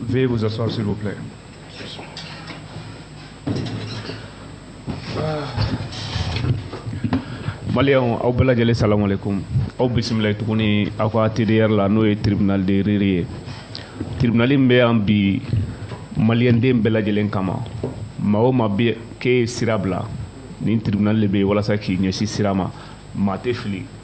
Veuillez vous asseoir, s'il vous plaît. Maliens, aw bɛɛ lajɛlen salamu alaikum. Aw bisimila tuguni aw ka TDR la n'o ye tribunal de rire ye. Tribunal min bɛ yan bi maliyɛnden bɛɛ lajɛlen kama maa o maa bɛ k'e ye sira bila nin tribunal de bɛ yen walasa k'i ɲɛsin sira ma maa tɛ fili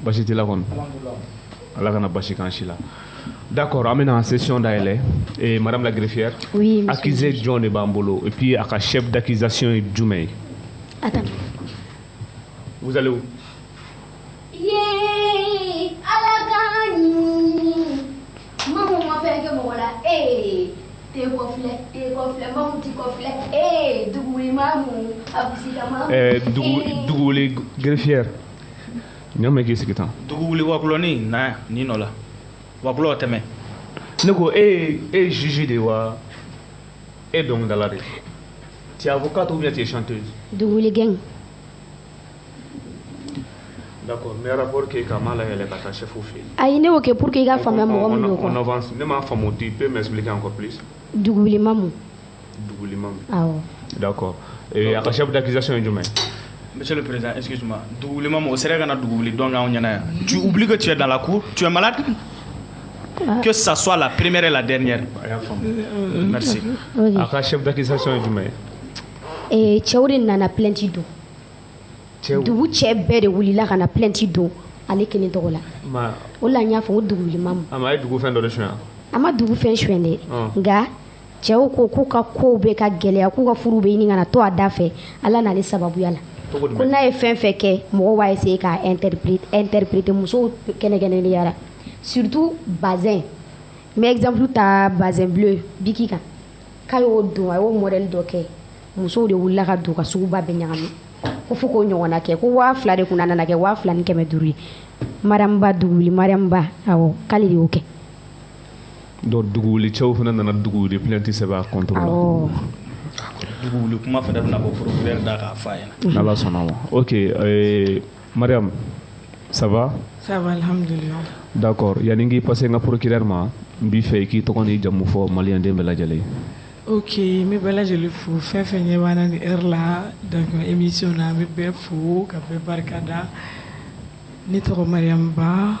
basi t'i la kɔni ala kana basi k'an si la d'accord an bɛna session dayɛlɛ eh, madame la greffière oui, accusé jɔn de b'an bolo et puis a ka chef d'accusation ye jumɛn ye attends vous allez où yee ala k'an ɲini mamu ma fɛn kɛ mɔgɔ la ee eh, te kɔfilɛ te kɔfilɛ mamu ti kɔfilɛ ee eh, duguwuli mamu abusila mamu eh, dugu duguwuli greffière ɲɔmɛ k'i sigi tan dugu wuli wakulɔni na yan ni nɔ la wakulɔ tɛmɛ ne ko e ye e ye juge de ye wa e ye dɔnkilidala de ye tu es avocate ou bien tu es chanteuse duguwuli d'accord n bɛ rapport kɛ ka m'a layɛlɛ ka taa chef fɛ yen ayi ne y'o kɛ pour que i ka faamuya mɔgɔ min don on quoi avance ne m'a faamu tu peux m'expliquer encore plus duguwuli mamu dugulenma dakɔ a ka sɛbɛn dakisɛso ye jumɛn n bɛ perez esi dugulenma o sera ka na dugu wuli dɔn anw ɲɛna yan wuli ka cɛ da la ko cɛmala ke saso a la peremere la dɛ ɲɛ a ka sɛ dakisɛso ye jumɛn ye cɛw de nana plɛti don dugu cɛ bɛɛ de wulila ka na plɛti don ale kelen tɔgɔ la o la n y'a fɔ o dugu a ye dugu fɛn dɔ de su a ma dugu fɛn su de nka cɛw ko k'u ka kow bɛ ka gɛlɛya k'u ka furu bɛ ɲini ka na to a da fɛ ala nana ni sababuya la ko n'a ye fɛn fɛn kɛ mɔgɔw b'a essayer ka interpréter musow kɛrɛnkɛrɛnnenya la surtout bazin n bɛ exemple ta bazin bleu bic kan k'a y'o don a y'o modèle dɔ kɛ musow de wulila ka don ka suguba bɛɛ ɲagami ko fo k'o ɲɔgɔnna kɛ ko waa fila de kun nana kɛ waa fila ni kɛmɛ duuru ye mariam ba duguwuli mariam ba awɔ k'ale de y'o kɛ donc duguwuli cɛw fana nana duguwuli plainte sɛbɛn a contre la awɔ dugu wuli kuma fana bɛna bɔ procureur da k'a fɔ a ɲɛna n'ala sɔnna ma ok euh, mariam ça va Ça va, alhamdulillah. d'accord yanni n k'i passer n ka procureur ma n b'i fɛ i k'i tɔgɔ n'i jamu fɔ maliyɛnden bɛɛ lajɛlen ye Ok, n bɛ bɛɛ lajɛlen fo fɛn o fɛn ɲɛ b'an na nin heure la donc nin émission na n bɛ bɛɛ fo ka bɛɛ barika da ne tɔgɔ Mariam Ba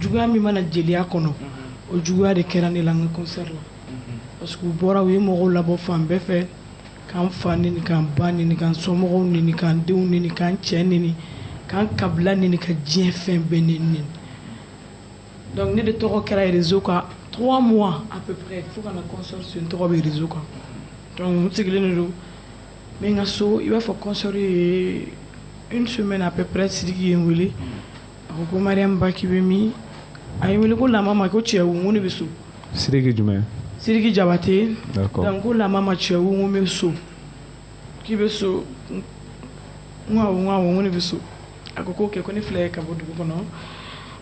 juguya min b'an na jeliya kɔnɔ o juguya de kɛra ne la n ka concert la parce que u bɔra u ye mɔgɔw labɔ fan bɛɛ fɛ k'an fa neni k'an ba neni k'an somɔgɔw neni k'an denw neni k'an cɛ neni k'an kabila neni ka diɲɛ fɛn bɛɛ neni neni donc ne de tɔgɔ kɛra réseau kan trois mois à peu près fo ka na concert su n tɔgɔ bɛ réseau kan donc n sigilen de don n bɛ n ka so i b'a fɔ concert ye une semaine à peu près sidiki ye n wele a ko ko mariam ba k'i bɛ min a ye n wele ko la maman ko ça va n ko n bɛ so siriki jumɛn siriki jabate ko la maman ça va n bɛ so k'i bɛ so n ko n bɛ so a ko k'o kɛ ko ne filɛ ka bɔ dugu kɔnɔ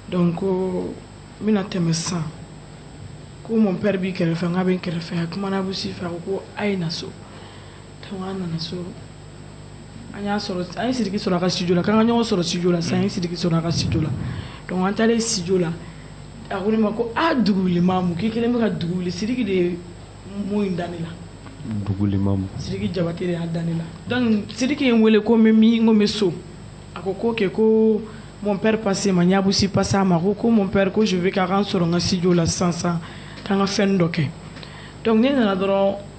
donc ko n bɛna tɛmɛ san ko mon père b'i kɛrɛfɛ fɛ n' bɛ kɛrɛfɛ a kumana abu si fɛ a ko a ye na so An nana so an y'a an ye sidiki sɔrɔ a ka studio la' ka ɲɔgɔn sɔrɔ studio la san sidiki sɔrɔ a ka studio la donc an taara studio la a ko ma ko aa dugu wuli mamu k'i kelen bɛ ka dugu wuli sidiki de ye mun in da ne la dugu wuli mamu sidiki jabate y'a da ne la donc sidiki ye n wele k'i bɛ min n ko n bɛ so a ko k'o kɛ ko mon père passer n ma n y'abu si passer a ma ko ko mon père ko su k'a ka sɔrɔ n ka studio la san san k'an ka fɛn dɔ kɛ donc ne nana dɔrɔn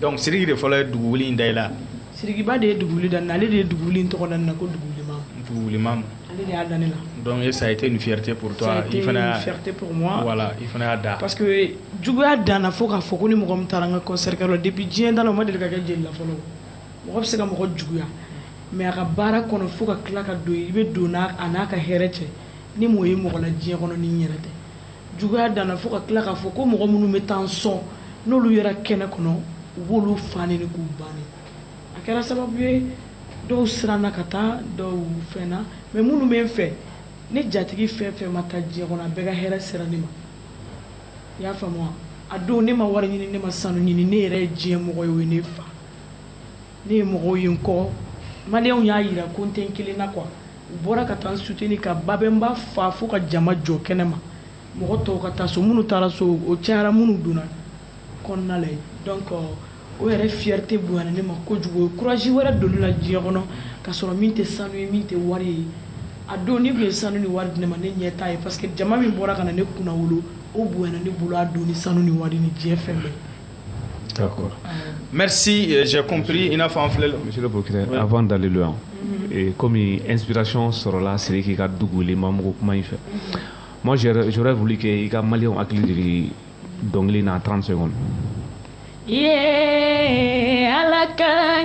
donc siriki de fɔlɔ ye dugu wuli in da i la sirikiba de ye dugu wuli da n na ale de ye dugu wuli in tɔgɔ da n na ko dugu wuli mamu dugu wuli mamu ale de y'a da ne la donc e ça a été une fierté pour toi ça a été une fierté pour moi voilà i fana y'a da parce que juguya danna fo k'a fɔ ko ni mɔgɔ min taara n ka concert kɛ yɔrɔ depuis diɲɛ danna o ma deli ka kɛ jeli la fɔlɔ mɔgɔ bɛ se ka mɔgɔ juguya mais a ka baara kɔnɔ fo ka tila ka don i bɛ don n'a a n'a ka hɛrɛ cɛ ne m'o ye mɔgɔ la diɲɛ kɔnɔ ni n yɛrɛ tɛ juguya danna fo ka tila k'a fɔ ko mɔgɔ minnu bɛ taa n sɔn n'olu yera kɛnɛ kɔnɔ u b'olu fa neni k'u ba neni a kɛra sababu ye dɔw siranna ka taa dɔw fɛnna mais minnu bɛ n fɛ ne jatigi fɛn fɛn ma taa diɲɛ kɔnɔ a bɛɛ ka hɛrɛ sera ne ma i y'a faamu wa a dɔn ne ma wari ɲini ne ma sanu ɲini ne yɛrɛ ye diɲɛ mɔgɔ ye o ye ne fa ne ye mɔgɔw ye n kɔ maliyɛnw y'a yira ko n tɛ n kelen na quoi u bɔra ka taa n soutenir ka babɛnba fa fo ka jama jɔ kɛnɛma mɔgɔ tɔw ka taa so minnu taara so o cayara minnu donna kɔnɔna la donc o yɛrɛ fierté bonyana ne ma kojugu o ye courage wɛrɛ don ne la diɲɛ kɔnɔ ka sɔrɔ min tɛ sanu ye min tɛ wari ye a dɔn n'i tun ye sanu ni wari di ne ma ne ɲɛ t'a ye parce que jama min bɔra ka na ne kunnawolo o bonyana ne bolo a dɔn ni sanu ni wari ni diɲɛ fɛn bɛɛ Mɛsipri i n'a fɔ filɛ dalilu kɔmi epirason sɔrɔla siri k'i ka dugu ma mugu kuma in fɛ ma wuli kɛ i ka mali hakili dɔnkili n'a t se kɔnɔ ala ka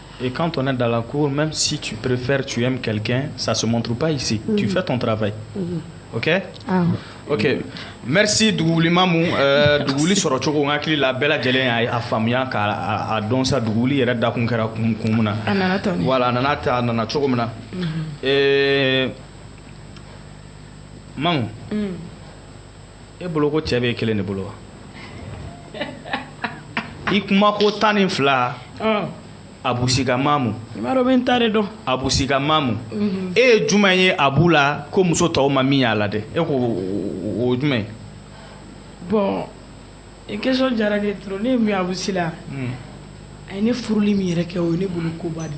Et quand on est dans la cour, même si tu préfères, tu aimes quelqu'un, ça ne se montre pas ici. Mm. Tu fais ton travail. Mm. Ok ah. Ok. Merci Dougouwouli Mamou. Euh, Dougouwouli sɔrɔ cogo n hakili la bɛɛ lajɛlen y'a faamuya k'a dɔn sa Dougouwouli yɛrɛ dakun kɛra kun kun min na. A nana ta Voilà a nana ta a nana cogo min na. Mm-hmm. Eh, Mamou. Mm. e bolo ko cɛ bɛ e kelen de bolo wa i kuma ko tan ni fila abu si ka mamu bɛ tan de dɔn abu si ka mamu e ye jumɛn ye abu la ko muso tɔw ma min y'a la dɛ e ko o jumɛn ye bɔn i kɛsiyɔn diyara de dɔrɔn ne ye min abu si la a ye ne furuli min yɛrɛ kɛ o ye ne bolo koba de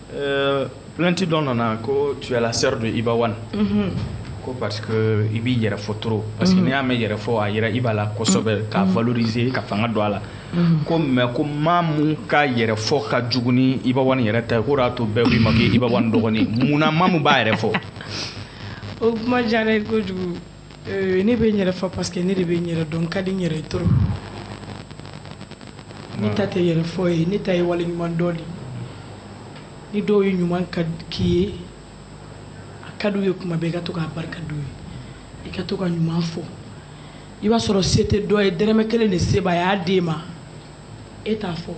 Euh, plainte dɔ nana ko tu es la sœur de Iba One. Mm -hmm. ko parce que i b'i yɛrɛ fɔ trop parce que mhm. n'i y'a mɛn yɛrɛ fɔ a yera Iba la kosɛbɛ mhm. k'a mhm. valoriser ka fanga don a la ko mais ko Mamou ka yɛrɛ fɔ ka jugu ni Iba One yɛrɛ ta ye k'o y'a to bɛɛ k'i ma ko Iba One dɔgɔnin mun na Mamou b'a yɛrɛ fɔ o kuma diyara n ye kojugu Euh, ne bɛ n yɛrɛ fɔ parce que ne de bɛ n yɛrɛ dɔn n ka di n yɛrɛ ye trop ne ta tɛ yɛrɛ fɔ ye ne ta ye wale ɲuman dɔn de ni dɔw ye ɲuman kɛ i ye a ka d'u ye kuma bɛɛ i ka to k'a barika d'u ye i ka to ka ɲuman fɔ i b'a sɔrɔ se tɛ dɔ ye dɔrɔmɛ kelen de se b'a ye a d'e ma e t'a fɔ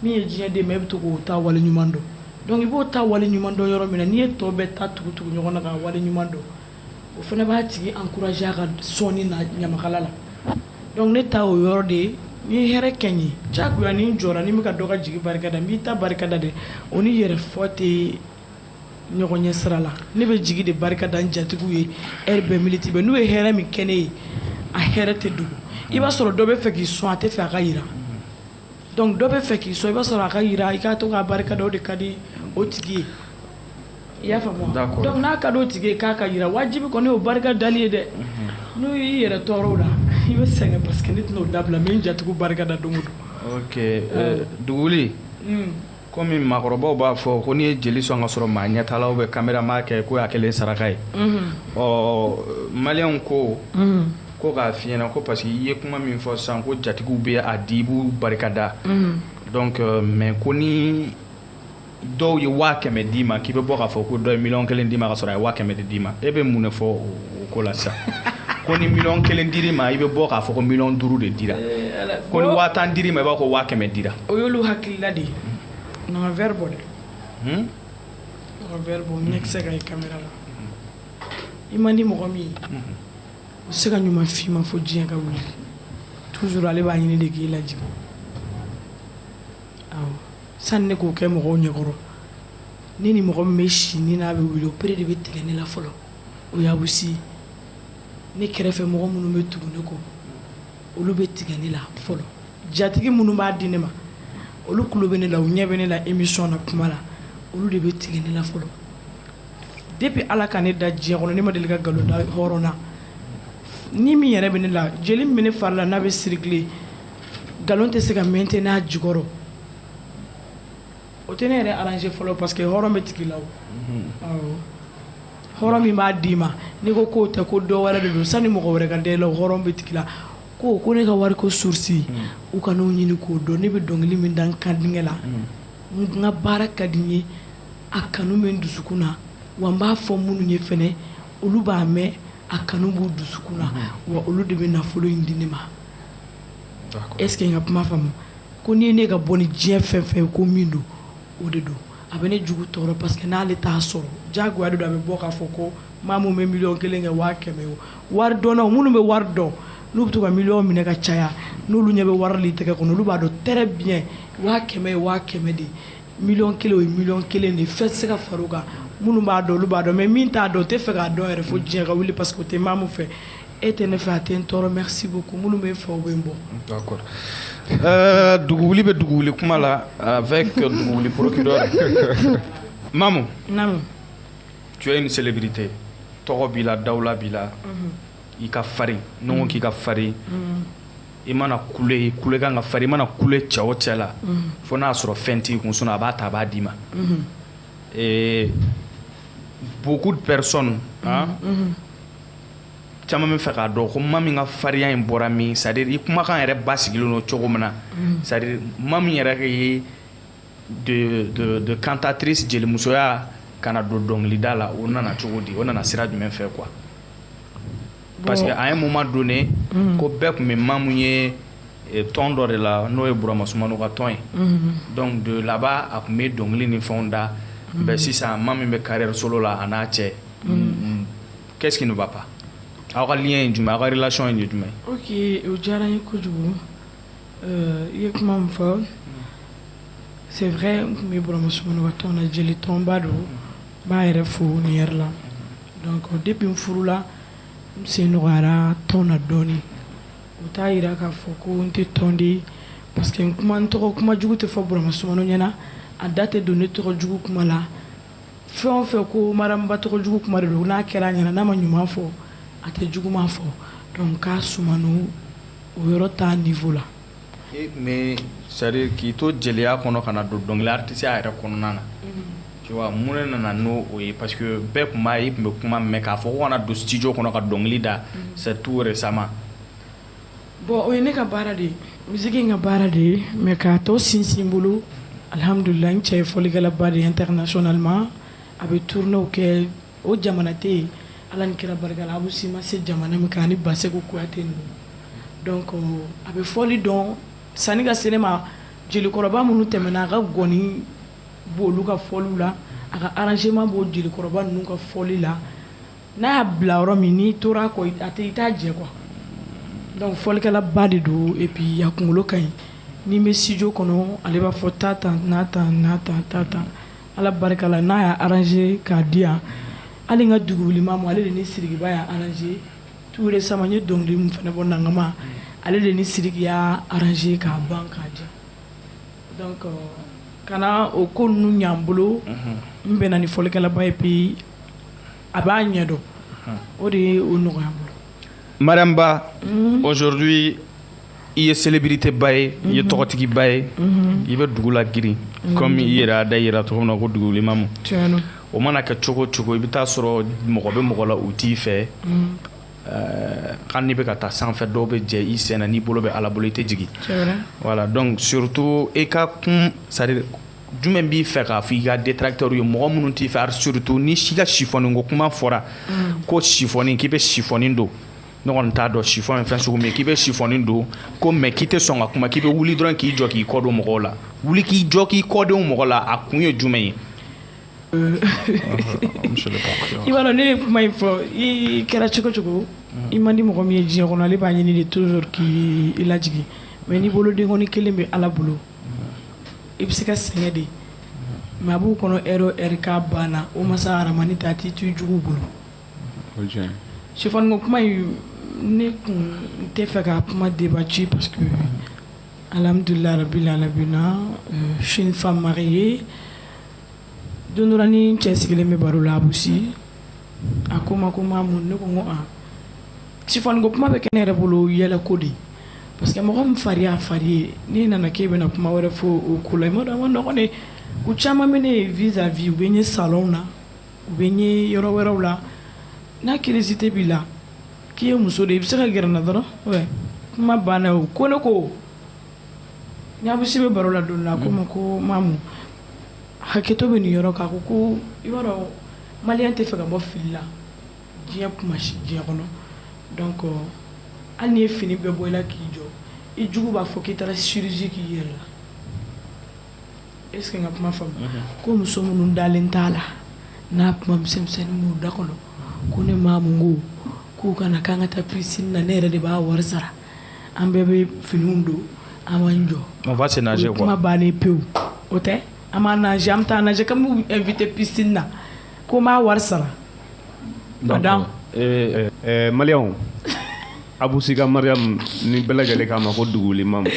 min ye diɲɛ d'e ma e bɛ to k'o ta wale ɲuman dɔn donc i b'o ta wale ɲuman dɔn yɔrɔ min na n'i ye tɔ bɛɛ ta tugu-tugu ɲɔgɔn na k'a wale ɲuman dɔn o fana b'a tigi ankuraze a ka sɔnni na ɲamakala la dɔnku ne ta o yɔrɔ de ye n'i ye hɛrɛ kɛ n ye jagoya ni n jɔra ni bɛ ka dɔ ka jigi barika da n b'i ta barika da dɛ o ni yɛrɛ fɔ tɛ ɲɔgɔn ɲɛ sira la ne bɛ jigi de barika da n jatigiw ye ɛri bɛɛ miniti bɛɛ n'u ye hɛrɛ min kɛ ne ye a hɛrɛ tɛ dogo i b'a sɔrɔ dɔ b'a fɛ k'i sɔn a t'a fɛ a ka yi Dɔnku dɔ b'a fɛ k'i sɔn i b'a sɔrɔ a ka yira i ka to ka barika da o de ka di o tigi ye n'a ka di o tigi ye k'a ka yira wajibi kɔni o barika dali ye dɛ n'o y'i yɛrɛ tɔɔrɔ la i bɛ sɛgɛn paseke ne tɛna o dabila n bɛ n jatigiw barika da dugu dugu komi maakɔrɔbaw b'a fɔ ko n'i ye jeli sɔn k'a sɔrɔ maa ɲɛ t'a la ou bien camera m'a kɛ ko i y'a kɛ le saraka ye ɔ maliyɛnw ko ko k'a f'i ɲɛna ko parce que i ye kuma min fɔ sisan ko jatigiw bɛ a di i b'u barikada donc mais ko ni dɔw ye waa kɛmɛ d'i ma k'i bɛ bɔ k'a fɔ ko dɔ ye miliyɔn kelen d'i ma k'a sɔrɔ a ye waa kɛmɛ de d'i ma e bɛ mun de fɔ o o ko la sisan ko ni miliyɔn kelen dir'i ma i bɛ bɔ k'a fɔ ko miliyɔn duuru de dira eh, ko ni waa tan dir'i ma i b'a ko waa kɛmɛ dira o y'olu hakilila de ye nɔgɔ vɛri bɔ dɛ hmm? nɔgɔ vɛri bɔ ɲɛ kisɛ ka ye kamera la i man di mɔgɔ min ye hmm. o tɛ se ka ɲuman f'i ma fo diɲɛ ka wuli toujours ale b'a ɲini de k'i lajigin awɔ sani ne k'o kɛ mɔgɔw ɲɛkɔrɔ ne ni mɔgɔ min bɛ si ni n'a bɛ wuli o yɛrɛ de bɛ tigɛ ne la fɔlɔ o y'a bɛ si ne kɛrɛfɛ mɔgɔ minnu bɛ tugu ne kɔ olu bɛ tigɛ ne la fɔlɔ jatigi minnu b'a di ne ma olu tulo bɛ ne la u ɲɛ bɛ ne la émission na kuma la olu de bɛ tigɛ ne la fɔlɔ depuis ala ka ne da diɲɛ kɔnɔ ne ma deli ka nkalon da hɔrɔn na ni min yɛrɛ bɛ ne la jeli min bɛ ne fari la n'a bɛ circuler nkalon tɛ se ka maintenir a jukɔrɔ o tɛ ne yɛrɛ arranger fɔlɔ parce que hɔrɔn bɛ tig'i la o, unhun, awɔ, hɔrɔn min b'a d'i ma n'i ko k'o tɛ ko dɔ wɛrɛ de don sani mɔgɔ wɛrɛ ka da i la o hɔrɔn bɛ tig'i la ko ko ne ka wari ko source hmm. u kan'o ɲini k'o dɔn ne bɛ dɔnkili min da n kandingɛ la hmm. n ka baara ka di n ye a kanu bɛ n dusukun na wa n b'a fɔ minnu ye fɛnɛ olu b'a mɛn a kanu b'u dusukun na hmm. wa olu de bɛ nafolo in di ne ma Est-ce que ka kuma faamu ko n' ye ne ka bɔ ni diɲɛ fɛn fɛn ye ko min don o de don a bɛ ne jugu tɔɔrɔ parce que n'ale t'a sɔrɔ ɲɛngoya de don a bɛ bɔ k'a fɔ ko maa min bɛ miliyɔn kelen kɛ waa kɛmɛ o waridɔnna minnu bɛ wari dɔn n'u bɛ to ka miliyɔn minɛ ka caya n'olu ɲɛ bɛ wari tɛgɛ kɔnɔ olu b'a dɔn très bien waa kɛmɛ o waa kɛmɛ de ye miliyɔn kelen o ye miliyɔn kelen de fɛn tɛ se ka far'o kan minnu b'a dɔn olu b'a dɔn mais min t'a dɔn t'a fɛ k'a dɔn yɛrɛ fo diɲɛ ka wuli parce que o tɛ mamu fɛ e tɛ ne fɛ a tɛ n tɔɔrɔ merci beaucoup minnu bɛ n fɛ o bɛ n bɔ dugu wuli bɛ dugu wuli kuma la avec dugu wuli procureur mamu tu es une célébrité tɔgɔ b'i la dawula b'i la i ka farin n ko k'i ka farin i mana kule i kule kan ka fari i mana kule cɛ o cɛ la fo n'a sɔrɔ fɛn t'i kun sinon a b'a ta a b'a d'i ma eh, beaucoup de personnes hein, caman bɛ fɛ k'a dɔn ko ma min ka farinya in bɔra min c'est à dire i kumakan yɛrɛ basigilen don cogo min na c'est à dire ma min yɛrɛ ye de, de, de cantatrice jelimusoya ka na don dɔnkilida la o nana cogo di o nana sira jumɛn fɛ quoi parce que à un moment donné mm. ko bɛɛ tun bɛ mamu ye eh, tɔn dɔ de la n'o ye burama sumano ka tɔn ye mm-hmm. donc de là-bas a tun bɛ dɔnkili ni fɛnw da mm-hmm. mais sisan ma min bɛ carrière solo la a n'a cɛ mm-hmm. qu'est-ce qui ne va pas aw ka lien ye jumɛn aw ka relation ye jumɛn ok o diyara n ye kojugu Euh, i ye kuma min fɔ c'est vrai n tun bɛ burama sumano ka tɔn na jelitɔnba don n b'a yɛrɛ fo nin yɛrɛ la donc depuis n furula n sen nɔgɔyara tɔn na dɔɔni o t'a yira k'a fɔ ko n tɛ tɔn de parce que n kuma n tɔgɔ kuma jugu tɛ fɔ burama sumano ɲɛna a da tɛ don ne tɔgɔ jugu kuma la fɛn o fɛn ko mariamba tɔgɔ jugu kuma de don n'a kɛra a ɲɛna n'a ma ɲuman fɔ a tɛ juguma fɔ donc k'a suman o yɔrɔ ta niveau la e tun bɛ c'est à dire k'i to jeliya kɔnɔ ka na don dɔnkili artistiya yɛrɛ kɔnɔna na mm-hmm. mun de nana n'o ye parce que bɛɛ tun b'a ye tun bɛ kuma mɛn k'a fɔ ko ka na don studio kɔnɔ ka dɔnkili da mm-hmm. c'est tout récemment bon o ye ne ka baara de ye misiki in ka baara de ye mais k'a tɔ sinsin bolo alihamdulila n cɛ ye fɔlikɛlaba de ye internationalement a bɛ tournéew kɛ o jamana tɛ yen ala ni kira barika la abu si ma se jamana min kan ani basɛku kuyate ninnu donc a bɛ fɔli dɔn sanni ka se ne ma jelikɔrɔba minnu tɛmɛna a ka ngɔni b'olu ka fɔliw la a ka arrangement b'o jelikɔrɔba ninnu ka fɔli la n'a y'a bila yɔrɔ min n'i tora kɔ a tɛ i t'a jɛ quoi donc fɔlikɛlaba de don et puis a kunkolo ka ɲi n'i bɛ studio kɔnɔ ale b'a fɔ ta tan n'a ta n'a ta ta tan ala barika la n'a y'a arranger k'a di yan hali ka dugu wuli mamu ale de ni sidiki y'a arranger tout récemment an ye dɔnkili min fana bɔ nagama ale de ni sidiki y'a arranger k'a ban k'a di donc kana o ko ninnu ɲa n bolo n bɛnna ni fɔlikɛlaba ye bi a b'a ɲɛ dɔn o de ye o nɔgɔya n bolo mariamba mhm. aujourd'hui i ye célébrité ba ye i ye mhm. tɔgɔtigi ba ye mhm. i bɛ dugu lagirin comme i yɛrɛ y'a da i yɛrɛ la cogo min na ko dugu wuli mamu o mana kɛ cogo o cogo i bɛ t'a sɔrɔ mɔgɔ bɛ mɔgɔ la u t'i fɛ euh, kan n'i bɛ ka taa sanfɛ dɔw bɛ jɛ i sen na n'i bolo bɛ ala bolo i tɛ jigin voilà donc surtout i ka kun c'est à dire jumɛn b'i fɛ k'a fɔ i ka détracteur ye mɔgɔ minnu t'i fɛ surtout n'i ka sifɔni ko kuma fɔra mm. ko sifɔni k'i bɛ sifɔni don ne kɔni t'a dɔn sifɔni ye fɛn sugu min ye k'i bɛ sifɔni don ko mais k'i tɛ sɔn ka kuma k'i bɛ wuli dɔrɔn k'i jɔ k'i kɔdon mɔgɔw la wuli k'i jɔ k'i kɔdon mɔgɔw la a kun ye jumɛn ye euh, i b'a dɔn ne ye kuma in fɔ i kɛra cogo o cogo mm. i man di mɔgɔ min ye diɲɛ kɔnɔ ale b'a ɲini de toujours k'i lajigin mais n'i bolo denkɔni kelen bɛ ala bolo i bɛ se ka sɛgɛn de mais a b'u kɔnɔ e ka banna o masa rahamani ta tɛ to jugu bolo sifɔni ko kuma in ne kɔni n tɛ fɛ ka kuma débattre parce que alihamdulilahi rabil alamina sinfa ma ye don dɔ la ni n cɛ sigilen bɛ baro la abu si a ko ma ko ma mun ne ko ko Chiffon ko kuma bɛ kɛ ne yɛrɛ bolo yɛlɛ ko de parce que mɔgɔ min fari y'a fari ye n'i nana k'e bɛna kuma wɛrɛ fɔ o ko la dɔgɔnin u caman ma n ye vis-à-vis u bɛ n ye sa na u bɛ n ye yɔrɔ wɛrɛw la n'a kiirisi tɛ b'i la k'i ye muso de i bɛ se ka gna dɔrɔn kuma banna o ko ne ko n'a bɛ se bɛ baro la don la ko ma ko mamu hakɛto bɛ nin yɔrɔ kan ko ko i b'a dɔn mali tɛ fɛ ka bɔ fili la diɲɛ kuma si diɲɛ kɔnɔ donc hali n'i ye fini bɛɛ bɔ i la k'i jɔ i jugu b'a fɔ k'i taara chirurgie k'i yɛrɛ la est ce que n ka kuma faamu mhm. ko muso minnu dalen t'a la n'a kuma misɛnmisɛnnin b'u da kɔnɔ ko ne mamu ko k'u ka na k'an ka taa piscine na ne yɛrɛ de b'a wari sara an bɛɛ bɛ finiw don an b'an jɔ on va se nager quoi kuma bannen pewu o tɛ an b'a nager an bɛ taa nager k'an b'u inviter piscine na Ko n b'a wari sara. Madame. Ee ɛɛ maliyɛnw a b'u si ka mariyamu ni bɛɛ lajɛlen k'a ma ko duguli mamu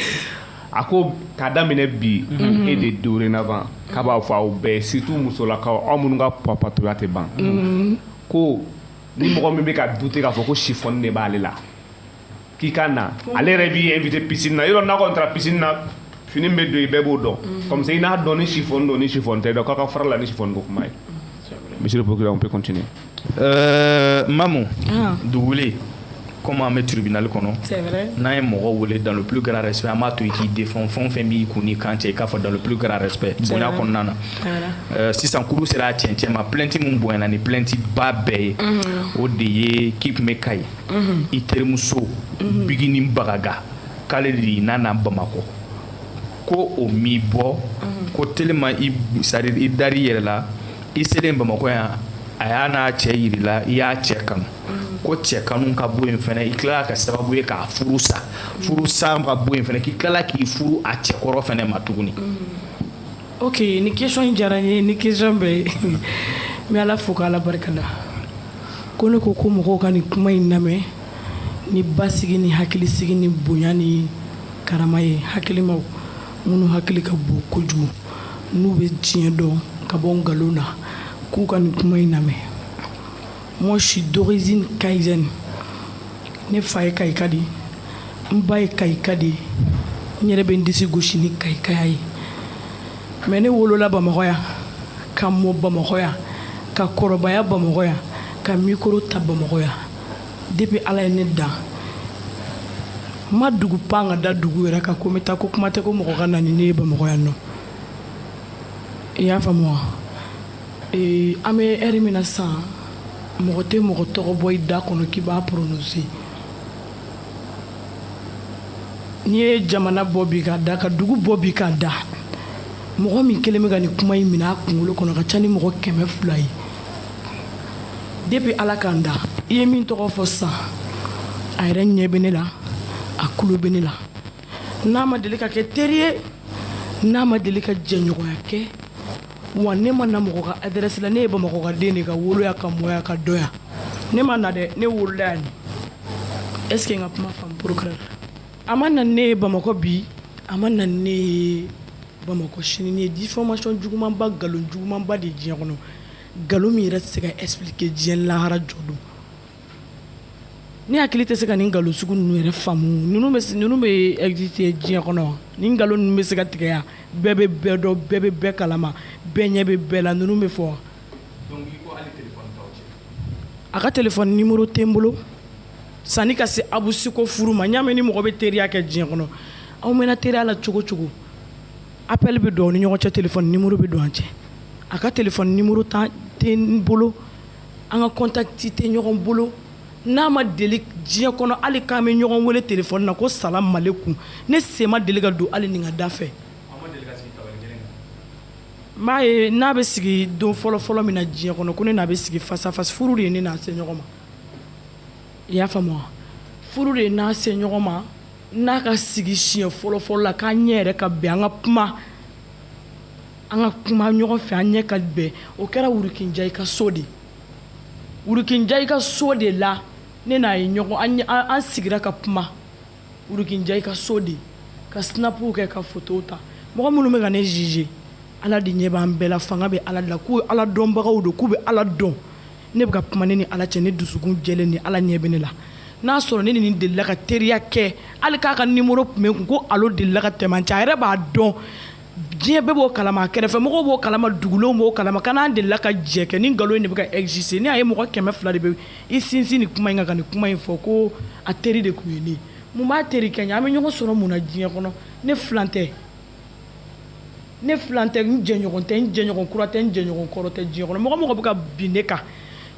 a ko k'a daminɛ bi mhm. e de dorénavant k'a b'a fɔ aw bɛɛ surtout musolakaw aw minnu ka papatoya tɛ ban mhm. ko ni mɔgɔ min bɛ ka douter k'a fɔ ko chiffon de b'ale la k'i ka na ale yɛrɛ b'i invité piscine na yɔrɔ n'a kɔni taara piscine na fini min bɛ don i bɛɛ b'o don mm. comme ça i n'a dɔn ni chiffon don ni chiffon tɛ donc a ka fara la ni chiffon ko kuma ye mm, monsieur le procureur on peut continuer euh, Mamu ah. Duguli comme an bɛ tribunal kɔnɔ n'an ye mɔgɔ wele dans le plus grand respect an b'a to i k'i défend fɛn o fɛn b'i kun n'i kan cɛ i k'a fɔ dans le plus grand respect bonya kɔnɔna na euh, sisan kurun sera a cɛncɛn ma plainte min bonyana ni plainte ba bɛɛ ye mhm. o de ye k'i tun bɛ Kayi i terimuso bigini bagaga k'ale de y'i nana bamakɔ ko o m'i bɔ ko telima i sariri i dari yɛrɛ la i selen bamakɔ yan a y'a n'a cɛ yira i la i y'a cɛ kanu ko cɛ kanu ka bɔ yen fana i tilala ka sababuya k'a furu sa furu sa ka bɔ yen fana k'i tilala k'i furu a cɛkɔrɔ fana ma tuguni Ok nin question in diyara n ye ni question bɛɛ ye n bɛ Ala fo k'Ala barika da ko ne ko ko mɔgɔw ka nin kuma in lamɛn ni basigi ni hakilisigi ni bonya ni karama ye hakilimaw minnu hakili ka bon kojugu n'u bɛ diɲɛ dɔn ka bɔ nkalon na k'u ka nin kuma in lamɛn. Moi, je suis d'origine kayésienne. Ne fa ye kayika de ye n ba ye kayika de ye n yɛrɛ bɛ n disi gosi ni kayikaya ye mais ne wolola bamakɔ yan ka mɔ bamakɔ yan ka kɔrɔbaya bamakɔ yan ka mikoro ta bamakɔ yan depuis ala ye ne dan n ma dugu pan ka da dugu wɛrɛ kan ko n bɛ taa ko kuma tɛ ko mɔgɔ ka na ni ne ye bamakɔ yan non i y'a faamu wa ee an bɛ ɛri min na sisan mɔgɔ tɛ mɔgɔ tɔgɔ bɔ i da kɔnɔ k'i b'a prononcer n'i ye jamana bɔ bi ka da ka dugu bɔ bi ka da mɔgɔ min kelen bɛ ka nin kuma in minɛ a kunkolo kɔnɔ ka ca ni mɔgɔ kɛmɛ fila ye depuis ala ka n da i ye min tɔgɔ fɔ sisan a yɛrɛ ɲɛ bɛ ne la a kulo bɛ ne la n'a ma deli ka kɛ teri ye n'a ma deli ka jɛɲɔgɔnya kɛ wa ne ma na mɔgɔ ka adresse la ne ye bamakɔkaden de ka wolo yan ka mɔ yan ka dɔn yan ne ma na dɛ ne wolola yan est ce que n ka kuma faamu procureur a ma na ne ye bamakɔ bi a ma na ne ye bamakɔ sini nin ye diffamation jugumanba nkalon jugumanba de diɲɛ kɔnɔ nkalon min yɛrɛ tɛ se ka expliquer diɲɛ lahara jɔ don ne hakili tɛ se ka nin nkalon sugu ninnu yɛrɛ faamu ninnu bɛ ninnu bɛ exister diɲɛ kɔnɔ wa nin nkalon ninnu bɛ se ka tigɛ yan bɛɛ bɛ bɛɛ dɔn bɛɛ bɛ bɛɛ kalama bɛɛ ɲɛ bɛ bɛɛ la ninnu bɛ fɔ wa a ka telefɔni nimoro tɛ n bolo sanni ka se abu si ka furu ma n y'a mɛn ni mɔgɔ bɛ teriya kɛ diɲɛ kɔnɔ aw mɛnna teriya la cogo cogo appel bɛ don aw ni ɲɔgɔn cɛ telefɔni nimoro bɛ don an cɛ a ka telefɔni nimoro tɛ n bolo an ka contact tɛ ɲɔgɔn bolo n'a ma deli diɲɛ kɔnɔ hali k'an bɛ ɲɔgɔn wele telefɔni na ko salamalekun ne sen ma deli ka don hali nin ka da fɛ n'a ye n'a bɛ sigi don fɔlɔfɔlɔ min na diɲɛ kɔnɔ ko ne n'a bɛ sigi face à face furu de ye ne n'a se ɲɔgɔn ma i y'a faamu furu de ye n'a se ɲɔgɔn ma n'a ka sigi siɲɛ fɔlɔfɔlɔ la k'an ɲɛ yɛrɛ ka bɛn an ka kuma an ka kuma ɲɔgɔn fɛ an ɲɛ ka bɛn o kɛra wuruki njayi ka so de wuruki njayi ka so de la ne n'a ye ɲɔgɔn an sigira ka kuma wuruki njayi ka so de ka sinapuw kɛ ka fotow ta mɔgɔ minnu bɛ ka ne juger ala de ɲɛ b'an bɛɛ la fanga bɛ ala la k'u ala dɔnbagaw don k'u bɛ ala dɔn ne bɛ ka kuma ne ni ala cɛ ne dusukun jɛlen ni ala ɲɛ bɛ ne la n'a sɔrɔ ne ni nin delila ka teriya kɛ hali k'a ka nimoro tun bɛ n kun ko allo delila ka tɛmɛ an cɛ a yɛrɛ b'a dɔn diɲɛ bɛɛ b'o kalama kɛrɛfɛmɔgɔw b'o kalama dugulenw b'o kalama ka n'a delila ka jɛ kɛ nin nkalon in de bɛ ka exister ni a ye mɔgɔ kɛmɛ fila de bɛ i sinsin nin kuma in kan ka nin kuma in fɔ ko a teri de tun ye ne mun b'a teri kɛ n ye an bɛ ɲɔgɔn sɔrɔ mun na diɲɛ kɔnɔ ne filan tɛ ne filan tɛ n jɛɲɔgɔn tɛ n jɛɲɔgɔn kura tɛ n jɛɲɔgɔn kɔrɔ tɛ diɲɛ kɔnɔ mɔgɔ mɔgɔ bɛ ka bin ne kan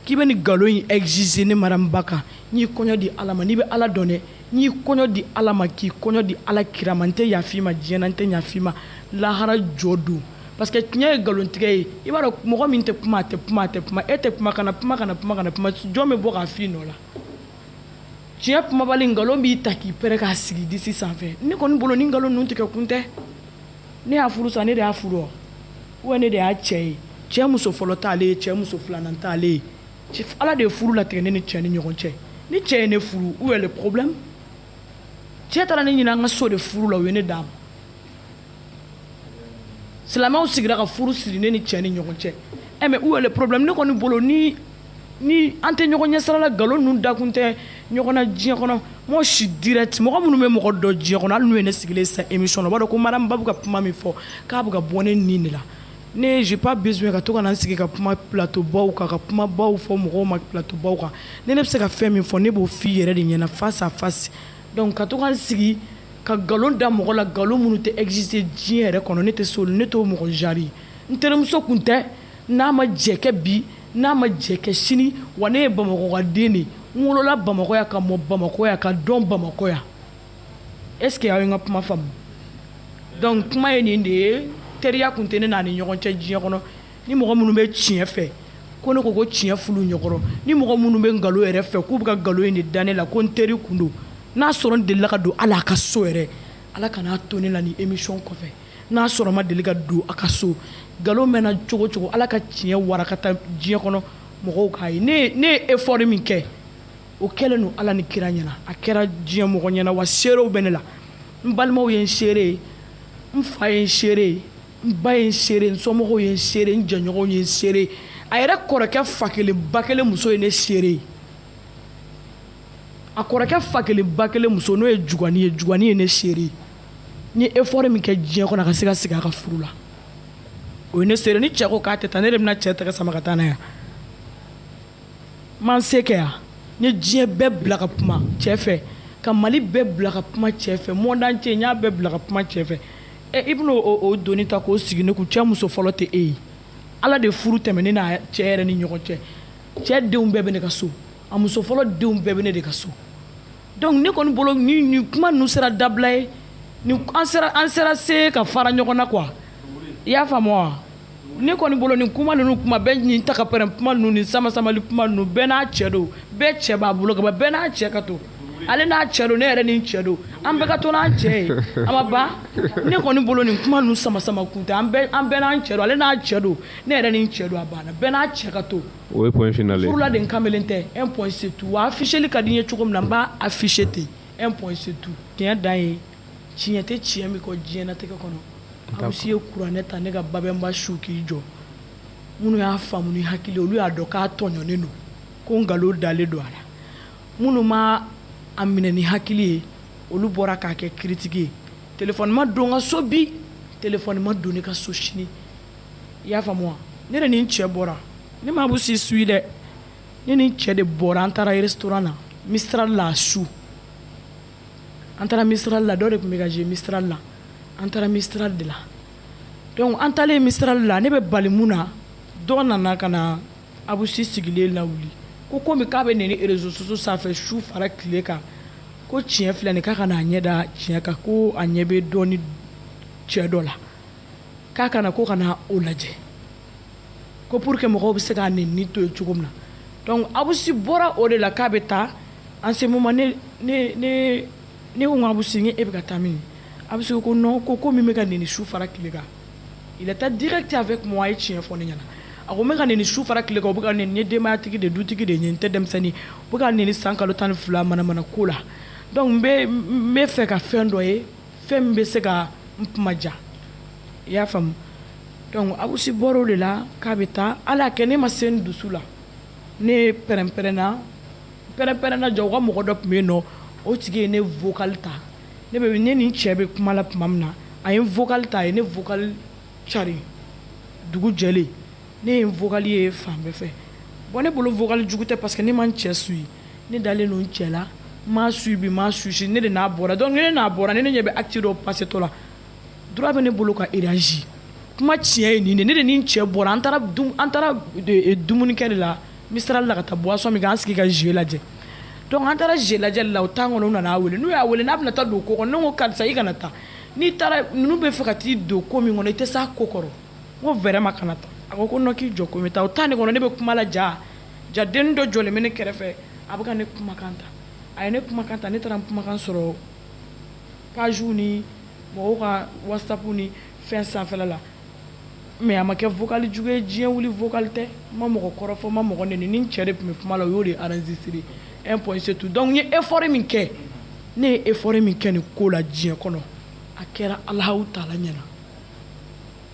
k'i bɛ nin nkalon in tigɛ ne mariam ba kan n y'i kɔɲɔ di ala ma n'i bɛ ala dɔn dɛ n y'i kɔɲɔ di ala ma k'i kɔɲɔ di ala kira ma n tɛ yaf'i ma diɲɛ na n tɛ yaf'i ma lahara jɔ don parce que nin ye nkalontigɛ ye i b'a dɔn mɔgɔ min tɛ kuma a tɛ kuma a tɛ kuma e tɛ kuma kana kuma kana kuma kana kuma jɔn bɛ bɔ k'a f'i nɔ la tiɲɛ kumabali nkalon b'i ta k'i pɛrɛn k'a sigi disi sanfɛ ne kɔni bolo ni nkalon ninnu tigɛ kun tɛ ne y'a furu sa ne de y'a furu wa ne de y'a cɛ ye cɛ muso fɔlɔ t'ale ye cɛ muso filanan t'ale ye ala de ye furu latigɛ ne ni cɛ ni ɲɔgɔn cɛ ni cɛ ye ne furu où est le problème cɛ taara ne ɲini an ka so de furu la u ye ne d'a ma silamɛw sigira ka furu siri ne ni cɛ ni ɲɔgɔn cɛ ɛ eh, mais où est le problème ne kɔni bolo ni ni an tɛ ɲɔgɔn ɲɛsirala nkalon ninnu da kun tɛ ɲɔgɔn na diɲɛ kɔnɔ mɔgɔ si direct mɔgɔ minnu bɛ mɔgɔ dɔn diɲɛ kɔnɔ hali n'u ye ne sigilen sa émission na o b'a dɔn ko madame Babu ka kuma min fɔ k'a bɛ ka bɔ ne nin de la ne j'ai pas besoin ka to ka na n sigi ka kuma plateau baw kan ka kuma baw fɔ mɔgɔw ma plateau baw kan ni ne bɛ se ka fɛn min fɔ ne b'o f'i yɛrɛ de ɲɛna face à face donc ka to ka n sigi ka nkalon da mɔgɔ la nkalon minnu tɛ exister diɲɛ yɛrɛ kɔnɔ ne tɛ s'olu ne t'o mɔgɔ genre ye n terimuso kun tɛ n'a ma jɛ kɛ bi n'a ma jɛ kɛ sini wa ne ye bamakɔkaden de ye n wolola bamakɔ yan ka mɔ bamakɔ yan ka dɔn bamakɔ yan est ce que aw ye n ka kuma faamu donc kuma ye nin de ye teriya kun tɛ ne n'a ni ɲɔgɔn cɛ diɲɛ kɔnɔ ni mɔgɔ minnu bɛ tiɲɛ fɛ ko ne k'o ko tiɲɛ f'olu ɲɛkɔrɔ ni mɔgɔ minnu bɛ nkalon yɛrɛ fɛ k'u bɛ ka nkalon in de da ne la ko n teri kun don n'a sɔrɔ n delila ka don hali a ka so yɛrɛ ala kan'a to ne la ni émission kɔfɛ n'a sɔrɔ n ma deli ka don a ka so nkalon mɛnna cogo cogo ala ka tiɲɛ warakata diɲɛ kɔnɔ mɔgɔw k'a ye ne ye effort min kɛ o kɛlen don ala ni kira ɲɛna a kɛra diɲɛ mɔgɔ ɲɛna wa seerew bɛ ne la n balimaw ye n seere ye n fa ye n seere ye n ba ye n seere ye n somɔgɔw ye n seere ye n jɛɲɔgɔnw ye n seere ye a yɛrɛ kɔrɔkɛ fa kelen ba kelen muso ye ne seere ye a kɔrɔkɛ fa kelen ba kelen muso n'o ye jugani ye jugani ye ne seere ye n ye effort min kɛ diɲɛ kɔnɔ a ka se ka sigi a ka furu la o ye ne seere ni cɛ ko k'a tɛ taa ne de bɛna cɛ tɛgɛ sama ka taa n'a ye n ma n se kɛ yan n ye diɲɛ bɛɛ bila ka kuma cɛ fɛ ka mali bɛɛ bila ka kuma cɛ fɛ monde entier n y'a bɛɛ bila ka kuma cɛ fɛ ɛ i bɛna o doni ta k'o sigi ne kun cɛ muso fɔlɔ tɛ e ye ala de furu tɛmɛ ne n'a cɛ yɛrɛ ni ɲɔgɔn cɛ cɛ denw bɛɛ bɛ ne ka so a muso fɔlɔ denw bɛɛ bɛ ne de ka so donc ne kɔni bolo ni kuma ninnu sera dabila ye an sera se ka fara ɲɔgɔn na qu i y'a faamu wa ne kɔni bolo ni kuma ninnu kuma bɛ nin ta k'a pɛrɛn kuma ninnu ni sama sama kuma ninnu bɛɛ n'a cɛ don bɛɛ cɛ b'a bolo bɛɛ n'a cɛ ka to ale n'a cɛ don ne yɛrɛ ni cɛ don an bɛɛ ka to n'an cɛ ye a ma ban ne kɔni bolo ni kuma ninnu sama sama kun tɛ an bɛɛ n'an cɛ ale n'a cɛ don ne yɛrɛ ni cɛ don a banna bɛɛ n'a cɛ ka to o ye point final ye furula de kamalen tɛ un point c'est tout wa afficheli ka di n ye cogo min na n b'a afficher ten un point c'est tout tiɲɛ dan ye tiɲɛ tɛ tiɲɛ min kɔ diɲɛnatigɛ kɔnɔ abusi ye kuranɛ ta ne ka babɛnba su k'i jɔ minnu y'a faamu ni hakili olu y'a dɔn k'a tɔɲɔnen don ko nkalon dalen don a la minnu ma a minɛ ni hakili ye olu bɔra k'a kɛ critique ye telefɔni ma don n ka so bi telefɔni ma don ne ka so sini i y'a faamu wa ne de ni n cɛ bɔra ne ma abusi suit dɛ ne ni n cɛ de bɔra an taara restaurant na misira la su an taara misira la dɔ de tun bɛ ka jouer misira la an taara misira de la donc an taalen misira la ne bɛ tabali min na dɔ nana ka na abusi sigilen lawuli ko komi k'a bɛ neni réseau sociaux sanfɛ su fara tile kan ko tiɲɛ filɛ nin k'a ka n'a ɲɛ da tiɲɛ kan ko a ɲɛ bɛ dɔnni cɛ dɔ la k'a ka na ko ka na o lajɛ ko pour que mɔgɔw bɛ se k'a nenni to yen cogo min na donc abusi bɔra o de la k'a bɛ taa en ce moment ne ne ne ne ko n ko abusi n ko e bɛ ka taa min abusi ko non ko ko min bɛ ka nenni su fara tile kan il est direct avec moi a ye tiɲɛ fɔ ne ɲɛna a ko n bɛ ka nenni su fara tile kan u bɛ ka n neni n ye denbayatigi de dutigi de ye n tɛ denmisɛnnin u bɛ ka n neni san kalo tan ni fila manamana ko la donc n bɛ n bɛ fɛ ka fɛn dɔ ye fɛn min bɛ se ka n kuma ja i y'a faamu donc abusi bɔra o de la k'a bɛ taa ala y'a kɛ ne ma se n dusu la ne pɛrɛnpɛrɛnna pɛrɛnpɛrɛnna jaa u ka mɔgɔ dɔ tun bɛ yen nɔ o tigi ye ne vocal ta ne bɛ ne ni n cɛ bɛ kuma la tuma min na a ye n vocal ta a ye ne vocal cari dugu jɛlen ne ye n vocal ye fan bɛɛ fɛ bon ne bolo vocal jugu tɛ parce que ne ma n cɛ suit ne dalen don n cɛ la n m'a suivi n m'a susi ne de n'a bɔra donc ne n'a bɔra ne ne ɲɛ bɛ acte dɔ pasetɔ la droit bɛ ne bolo ka réagir kuma tiɲɛ ye nin de ne de ni n cɛ bɔra an taara an taara e, dumunikɛ de la misira la ka taa buwasɔn min k'an sigi ka jouer lajɛ donc an taara jouer lajɛ la o temps kɔnɔ u nan'a wele n'u y'a wele n'a bɛna taa don ko kɔnɔ ne ko karisa i kana taa n'i taara ninnu bɛ fɛ ka t'i don ko min kɔnɔ i tɛ se ko kɔrɔ n ko vraiment kana taa a ko ko k'i jɔ k'a bɛ taa o temps de kɔnɔ ne bɛ kuma la jaa jaa dennin dɔ jɔlen bɛ ne kɛrɛfɛ a bɛ ka ne kumakan ta a ye ne kumakan ta ne taara n kumakan sɔrɔ pagew ni mɔgɔw ka whatsapp ni fɛn sanfɛla la mais a ma kɛ vocal jugu ye diɲɛ wuli vocal tɛ n ma mɔgɔ kɔrɔfɔ n ma mɔgɔ neni n ni n cɛ de tun bɛ kuma la o y'o de enregistré un point c'est tout donc n ye effort min kɛ ne ye effort min kɛ nin ko la diɲɛ kɔnɔ a kɛra alahu taala ɲɛna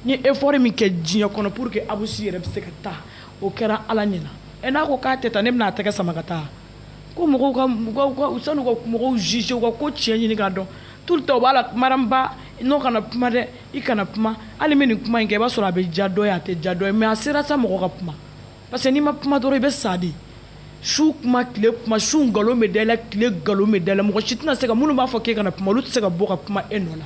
n ye effort min kɛ diɲɛ kɔnɔ pour que abusi yɛrɛ bɛ se ka taa o kɛra ala ɲɛna ɛ n'a ko k'a tɛ taa ne bɛna a tɛgɛ sama ka taa ko mɔgɔw ka mɔgɔw ka u sani u ka mɔgɔw juger u ka ko tiɲɛ ɲini k'a dɔn tout le temps u b'a la Mariam Ba n'o kana kuma dɛ i kana kuma hali min nin kuma in kɛ i b'a sɔrɔ a bɛ diya dɔ ye a tɛ diya dɔ ye mais a sera sa mɔgɔ ka kuma parce que n'i ma kuma dɔrɔn i bɛ sa de su kuma tile kuma su nkalon bɛ da i la tile nkalon bɛ da i la mɔgɔ si tɛna se ka minnu b'a fɔ k'e kana kuma olu tɛ se ka bɔ ka kuma e nɔ la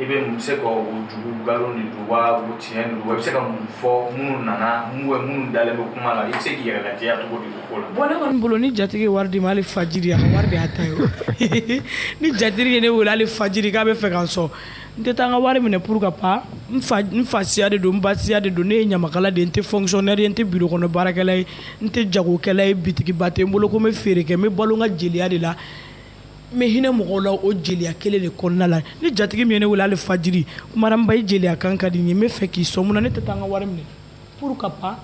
i bɛ mun se ka o jugu nkalon de don wa o tiɲɛ de don wa i bɛ se ka mun fɔ minnu nana mun bɛ minnu dalen bɛ kuma la i bɛ se k'i yɛrɛ lajɛya cogo di o ko la. bon ne kɔni bolo ni jatigi ye wari di n ma hali fajiri a ka wari de y'a ta ye o ni jatigi ye ne wele hali fajiri k'a b'a fɛ ka n sɔn n tɛ taa n ka wari minɛ pourquoi pas n fasiya de don n basiya de don ne ye ɲamakala de ye n tɛ fonctionnaire ye n tɛ biro kɔnɔ baarakɛla ye n tɛ jagokɛla ye bitigiba tɛ n bolo ko n bɛ feere kɛ n bɛ balo n ka jeliya de la n bɛ hinɛ mɔgɔw la o jeliya kelen de kɔnɔna la ni jatigi min ye ne wele hali fajiri ko Mariam Ba i jeliya kan ka di n ye n b'a fɛ k'i sɔn mun na ne tɛ taa n ka wari minɛ pourquoi pas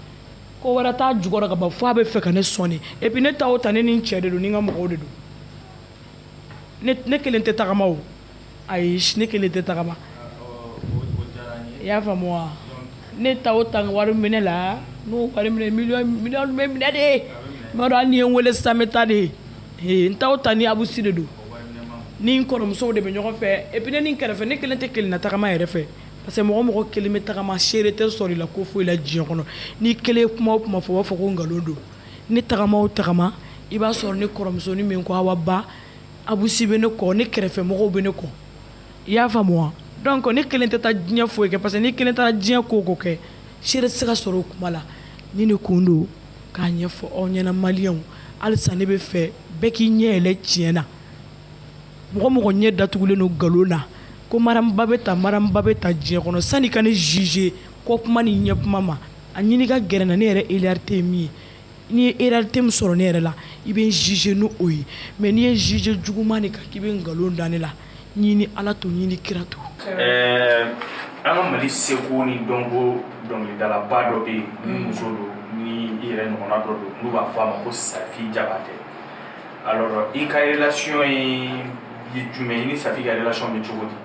ko wɛrɛ t'a jukɔrɔ ka ban fo a b'a fɛ ka ne sɔn de et puis ne taa o taa ne ni n cɛ de don ni n ka mɔgɔw de don ne ne kelen tɛ tagama o ayi ne kelen tɛ tagama i y'a faamu wa ne taa o taa wari minɛ la n'o wari minɛ minɛ de ye ma dɔn ni ye n weele sanbe ta de ye n taa o taa n ni abusi de don n ni n kɔrɔmusow de bɛ ɲɔgɔn fɛ et puis n kɛrɛfɛ ne kelen tɛ kelen na tagama yɛrɛ fɛ parce que mɔgɔ mɔgɔ kelen bɛ tagama seere tɛ sɔrɔ i la ko foyi la diɲɛ kɔnɔ n'i kelen kuma o kuma fɔ u b'a fɔ ko nkalon don ne tagama o tagama i b'a sɔrɔ n kɔrɔmusonin min ko Awa Ba Abusi bɛ ne kɔ ne kɛrɛfɛ mɔgɔw bɛ ne kɔ i y'a faamu wa donc ne kelen tɛ taa diɲɛ foyi kɛ parce que n'i kelen taara diɲɛ ko kɛ seere tɛ se ka sɔrɔ o kuma la nin de kun don k'a ɲɛfɔ aw ɲɛna Maliens halisa ne b'a fɛ bɛɛ k'i ɲɛ yɛlɛ tiɲɛ na mɔgɔ o mɔgɔ ɲɛ datugulen don nkalon na ko Mariam Ba bɛ tan Mariam Ba bɛ tan diɲɛ kɔnɔ sani i ka ne juger kɔ kuma ni ɲɛ kuma ma a ɲini ka gɛrɛ n na ne yɛrɛ réalité ye min ye n'i ye réalité min sɔrɔ ne yɛrɛ la i bɛ n juger ni o ye mais n'i ye n juger juguman de kan k'i bɛ nkalon da ne la n y'i ni Ala to n y'i ni kira to. Ɛɛ an ka Mali seko ni dɔnko dɔnkilidalaba dɔ bɛ yen ni mm. muso don ni i yɛrɛ ɲɔgɔnna dɔ don n'u b'a fɔ a ma ko Safi Jabate alors i ka relation ye ye jumɛn ye i ni Safi ka relation bɛ cogo di?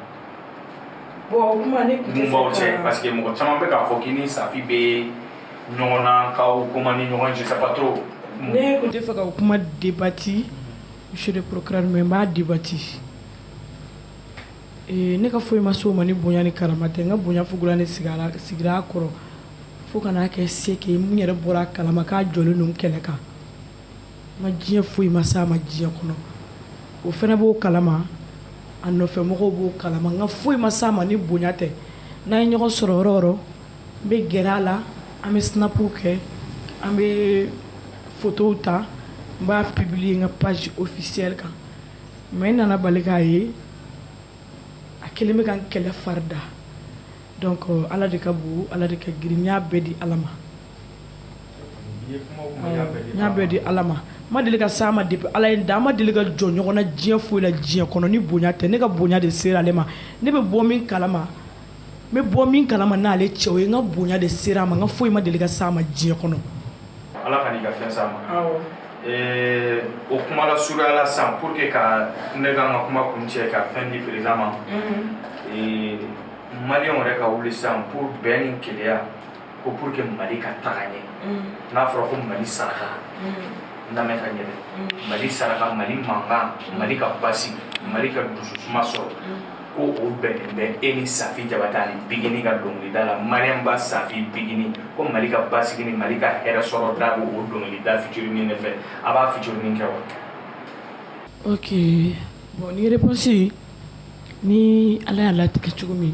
Bon o kuma ne tun tɛ se ka mun b'aw cɛ parce que mɔgɔ caman bɛ k'a fɔ k'i ni Safi bɛ ɲɔgɔn na k'aw kuma ni ɲɔgɔn cɛ sabato ne kun t'a fɛ ka kuma debati monsieur le procureur mais n b'a debati ee ne ka foyi ma s'o ma ni bonya ni karama tɛ n ka bonya fugula ne sigara sigira a kɔrɔ fo ka n'a kɛ se kɛ mun yɛrɛ bɔra a kalama k'a jɔlen don kɛlɛ kan n ka diɲɛ foyi ma s'a ma diɲɛ kɔnɔ o fana b'o kalama a nɔfɛ mɔgɔw b'o kalama n ka foyi ma s'a ma ni bonya tɛ n'an ye ɲɔgɔn sɔrɔ yɔrɔ o yɔrɔ n bɛ gɛrɛ a la an bɛ sinapuw kɛ an bɛ fotow ta n b'a publier n ka page officiel kan mais n nana bali k'a ye a kelen bɛ ka n kɛlɛ farida donc ala de ka bon ala de ka girin n y'a bɛɛ di ala ma n y'a bɛɛ di ala ma n ma deli ka s'a ma depuis ala ye n da n ma deli ka jɔ ɲɔgɔn na diɲɛ foyi la diɲɛ kɔnɔ ni bonya tɛ ne ka bonya de sera ale ma ne bɛ bɔ min kalama bɛ bɔ min kalama n'ale cɛ o ye n ka bonya de sera a ma n ka foyi ma deli ka s'a ma diɲɛ kɔnɔ ala kana n ka fɛn s'a ma o kuma la surunya la san pour que ka ne ka n ka kuma kuncɛ ka fɛn di perez ma mali yɛrɛ ka wuli san pour bɛn ni kelenya ko pour que mali ka taga ɲɛ mm. n'a fɔra ko mali saraka mm. lamɛn ka ɲɛ dɛ mm. mali saraka mali mankan mali ka basigi mali ka dususuma sɔrɔ ko o bɛnnen bɛ e ni safi jabatɛ ni bigini ka dɔnkilida la mariam ba safi bigini ko mali ka basigi ni mali ka hɛrɛ sɔrɔ da ko o dɔnkilida featuring ne fɛ a b'a featuring kɛ wa ok bon ni réponse ni ala y'a latigɛ cogo min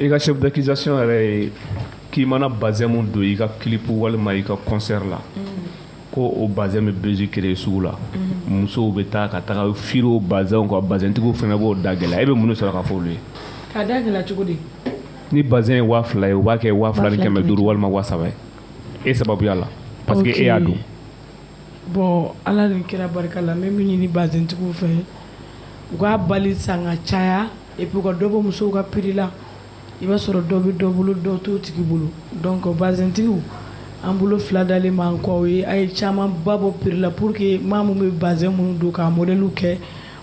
i ka chef d'accusation yɛrɛ ye k'i mana bazɛn min don i ka kilipu walima i ka concert la mm. ko o bazɛn bɛ besoin créer sugu la mm. musow bɛ taa ka taga firi o bazɛnw kan bazɛntigiw fana b'o da gɛlɛya e bɛ mun de sɔrɔ ka fɔ olu ye k'a da gɛlɛya cogo di ni bazɛn ye waa fila ye u b'a kɛ waa fila ni kɛmɛ duuru walima waa saba ye e sababuya la parce que e y'a don bon ala ni kira barika la n bɛ min ɲini bazɛntigiw fɛ u k'a bali san ka caya et puis ka dɔ bɔ musow ka prix la i b'a sɔrɔ dɔ bɛ dɔ bolo dɔ t'o tigi bolo donc bazɛntigiw an bolo fila dalen b'an kɔ aw ye a ye camanba bɔ prix la pour que maa min bɛ bazɛn minnu don k'a modèle kɛ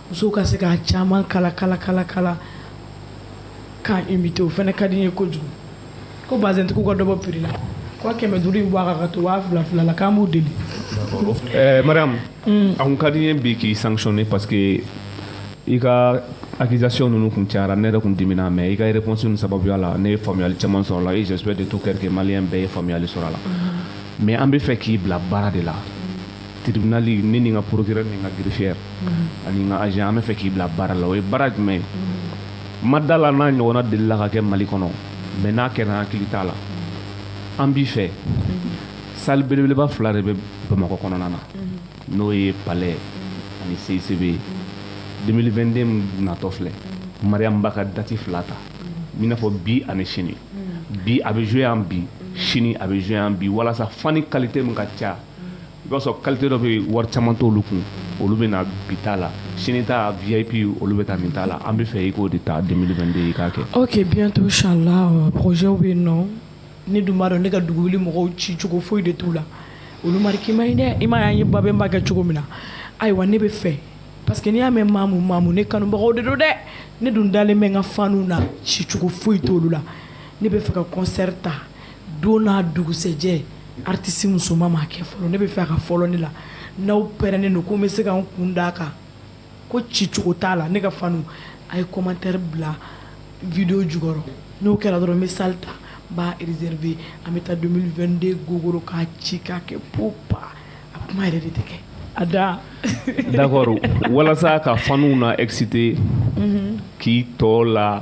musow ka se k'a caman kala kala kala kala k'a imiter o fana ka di n ye kojugu. ko bazɛntigiw ka dɔ bɔ prix la ko kɛmɛ duuru in bɔ a kan k'a to waa fila fila la k'an b'u deli eh, mariam mm. a kun ka di n ye bi k'i sanctionner parce que i ka accusation ninnu kun cayara ne yɛrɛ kun dimina mais i ka réponse ninnu sababuya la ne ye faamuyali caman sɔrɔ la et j'espère de tout cœur que malien bɛɛ ye faamuyali sɔrɔ a la mm-hmm. mais an b'a fɛ k'i bila baara de la tribunali ne ni n ka procureur ni n ka greffière mhm. ani n ka agent an bɛ fɛ k'i bila baara la o ye baara jumɛn ye mhm. n ma da a la n'a ɲɔgɔnna delila ka kɛ mali kɔnɔ mɛ n'a kɛra an hakili t'a la mhm. an b'a fɛ sali belebeleba fila de bɛ bamakɔ kɔnɔna na n'o ye palais ani CICB 2022 natɔ filɛ mariyamu ba ka dati fila ta i n'a fɔ bi ani sini bi a bɛ jouer yan bi sini a bɛ jouer yan bi walasa fani qualité min ka ca i b'a sɔrɔ kalite dɔ bɛ wari caman t'olu kun olu bɛ na bi ta la sini ta vip olu bɛ taa nin ta la an bɛ fɛ i k'o de ta 2022 i k'a kɛ. ok bientôt inchallah euh, projet bɛ yen nɔ ne dun b'a dɔn ne ka dugu wuli mɔgɔw ci cogo foyi de t'u la olu mariki man ɲi dɛ i m'a ye an ye babɛnba kɛ cogo min na ayiwa ne bɛ fɛ parce que n'i y'a mɛn maamu maamu ne kanubagaw de don dɛ ne dun dalen bɛ n ka faniw na ci cogo foyi t'olu la ne bɛ fɛ ka concert ta. don n'a dugusɛjɛ artiste musoman m'a kɛ fɔlɔ ne bɛ fɛ a ka fɔlɔ ne la n'aw pɛrɛnnen don ko n bɛ se ka n kun d'a kan ko ci cogo t'a la ne ka fanw a ye commentaire bila video jukɔrɔ n'o kɛra dɔrɔn n bɛ salle ta n b'a réserver an bɛ taa 2022 gogoro k'a ci k'a kɛ po pa a kuma yɛrɛ de tɛ kɛ a da d'accord walasa ka faniw na exciter k'i tɔ la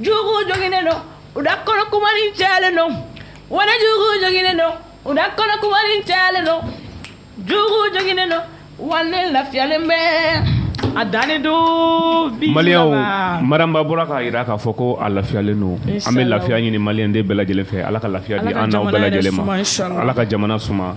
jugu joginen don u da kɔnɔ kumani cayalen don wɛrɛ jugu joginen don u da kɔnɔ kumani cayalen don jugu joginen don wale lafiyalen bɛ a dani du maliyɛnw mariyamu ba bɔra k'a jira k'a fɔ ko a lafiyalen don an bɛ lafiya ɲini maliyɛnden bɛɛ lajɛlen fɛ ala ka lafiya di an n'aw bɛɛ lajɛlen ma ala ka jamana suma